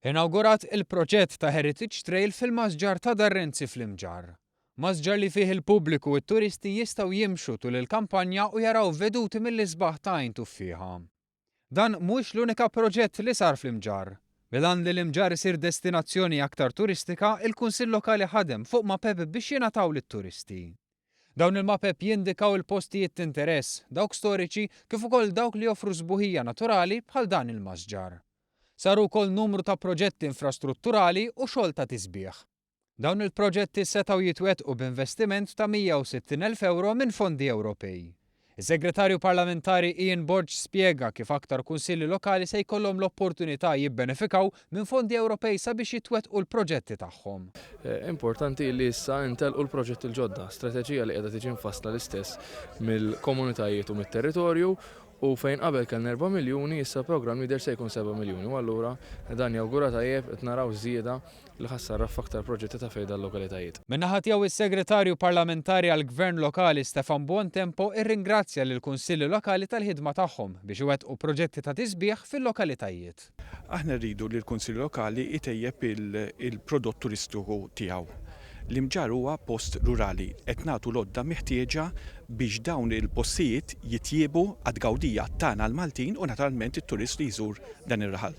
Inawgurat il-proġett ta' Heritage Trail fil-Masġar ta' Dar Renzi fl-Imġarr. Masġar li fih il-pubbliku u t-turisti jistgħu jimxu tul il-kampanja u jaraw veduti mill-isbaħ ta' Għajn Tuffieħa. Dan mhuwiex l-unika proġett li sar fl-Imġarr. Bil-għan li l-Imġarr isir destinazzjoni aktar turistika, il-Kunsill Lokali ħadem fuq mapep biex jingħataw lit-turisti. Dawn il-mapep jindikaw il-postijiet t'interess, dawk storiċi kif ukoll dawk li joffru sbuħija naturali bħal dan il-masġar. Saru wkoll numru ta' proġetti infrastrutturali u xogħol ta' tisbiħ. Dawn il-proġetti setgħu jitwettqu b'investiment ta' 160 elf ewro minn fondi Ewropej. Is-Segretarju Parlamentari Ian Borg spjega kif aktar Kunsilli Lokali se jkollhom l-opportunità jibbenefikaw minn fondi Ewropej sabiex jitwettqu l-proġetti tagħhom. Importanti li issa jintellqu l-proġetti l-ġodda, strateġija li qiegħda tiġi mfassla l-istess mill-komunitajiet u mit-territorju U fejn qabel kellna erba' miljuni, issa l-programm jidher se jkun seba' miljuni u allura dan jawgura tajjeb qed naraw żieda li ħa ssarraf f'aktar proġetti ta' fejda l-lokalitajiet. Minn naħa tiegħu s-Segretarju Parlamentari għall-Gvern Lokali Stefan Buontempo irringrazzja lill-Kunsilli Lokali tal-ħidma tagħhom biex iwettqu proġetti ta' tisbiħ fil-lokalitajiet. Aħna rridu li l-Kunsill Lokali jtejjeb il-prodott turistiku tiegħu. L-Imġarr huwa post rurali. Qed nagħtu l-għodda meħtieġa biex dawn il-postijiet jitjiebu għat-tgawdija tagħna l-Maltin u naturalment it-turist li jżur dan ir-raħal.